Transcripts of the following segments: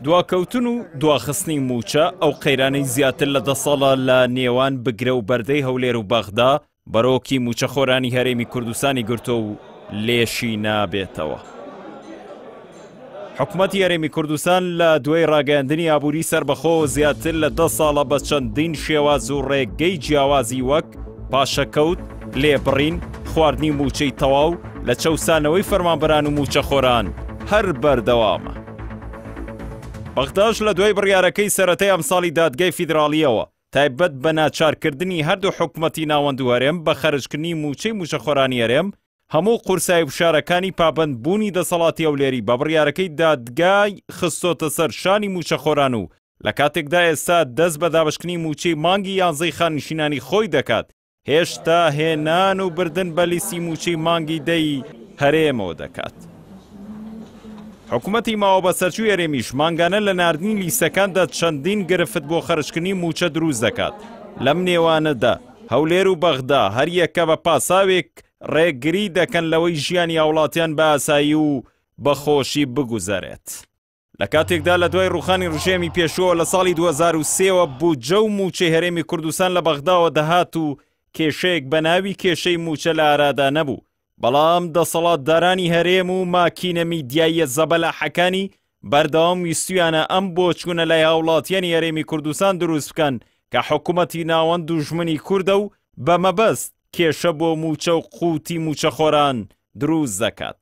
دواکەوتن و دواخستنی موچە ئەو قەیرانەی زیاتر لە دە ساڵە لە نێوان بگرە و بەردەی هەولێر و بەغدا بەرۆکی موچەخۆرانی هەرێمی کوردستانی گرتۆ و لێشی نابێتەوە. حکومەت یارێمی کوردستان لە دوای ڕاگەاندنی ئابووری سربەخۆ زیاتر لە دە ساڵە بە چەندین شێواز و ڕێگەی جیاوازی وەک پاشەکەوت لێبڕین، خواردنی مووچەی تەواو، لە چەوسانەوەی فەرمانبەران و مووچەخۆران هەر بەردەوامە. بەغداش لە دوای بڕیارەکەی سەرەتای ئەمساڵی دادگای فیدراڵییەوە تایبەت بە ناچارکردنی هەردوو حکومەتی ناوەند و هەرێم بە خەرجکردنی مووچەی مووچەخۆرانی هەرێم، هەموو قورسایی و فشارەکانی پابەندبوونی دەسەڵاتی هەولێری بە بڕیارەکەی دادگای خستۆتە سەر شانی مووچەخۆران و لە کاتێکدا ئێستا دەست بە دابەشکردنی مووچەی مانگی یانزەی خاننشینانی خۆی دەکات هێشتا هێنان و بردن بە لیستی مووچەی مانگی دەی هەرێمەوە دەکات. حکوومەتی ماوە بەسەرچووی هەرێمیش مانگانە لە نردنی لیستەکاندا چەندین گرفت بۆ خەرشکردنی مووچە دروست دەکات. لەم نێوانەدا هەولێر و بەغدا هەریەکە بە پاساوێک ڕێگری دەکەن لەوەی ژیانی هاوڵاتیان بە ئاسایی و بە خۆشی بگوزەرێت. لە کاتێکدا لە دوای ڕوخانی ڕژێمی پێشووە لە ساڵی 2023ەوە بودجە و موچەی هەرێمی کوردستان لە بەغداوە دەهات و کێشەیەک بە ناوی کێشەی موچە لە ئارادا نەبوو بەڵام دەسەڵاتدارانی هەرێم و ماکینە میدیاییە زەبەلاحەکانی بەردەوام ویستویانە ئەم بۆچوونە لای هاوڵاتیانی هەرێمی کوردستان دروست بکەن کە حکوومەتی ناوەند دوژمنی کووردە و بە مەبەست کێشە بۆ موچە و قووتی موچەخۆران دروست دەکات.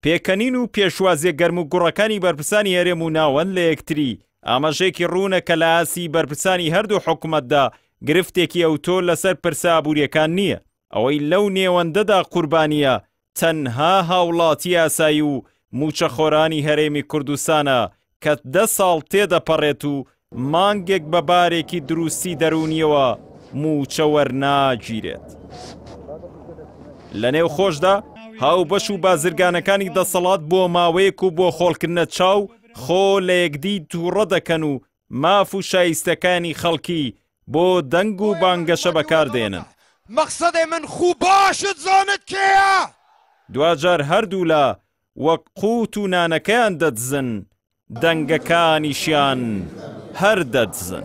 پێکەنین و پێشوازیە گەرم و گوڕەکانی بەرپرسانی هەرێم و ناوەند لە یەکتری ئاماژێکی ڕوونە کە لە ئاسی بەرپرسانی هەردوو حکوومەتدا گرفتێکی ئەوتۆ لەسەر پرسە ئابووریەکان نییە ئەوەی لەو نێوەندەدا قوربانیە تەنها هاوڵاتی ئاسایی و موچەخۆرانی هەرێمی کوردستانە کە دە ساڵ تێدەپەڕێت و مانگێک بە بارێکی دروستی دەروونیەوە مووچە وەرناگیرێت. لە نێو خۆشدا هاوبەش و بازرگانەکانی دەسەڵات بۆ ماوەیەک و بۆ خۆڵکردنە چاو خۆ لە یەکدی تووڕە دەکەن و ماف و شایستەکانی خەڵکی بۆ دەنگ و بانگەشە بەکاردێنن. مەقسەدێ من خوو باشت زانت کێیە؟ دواجار هەردوولا وەک قووت و نانەکەیان دەدزن، دەنگەکانیشیان هەر دەدزن.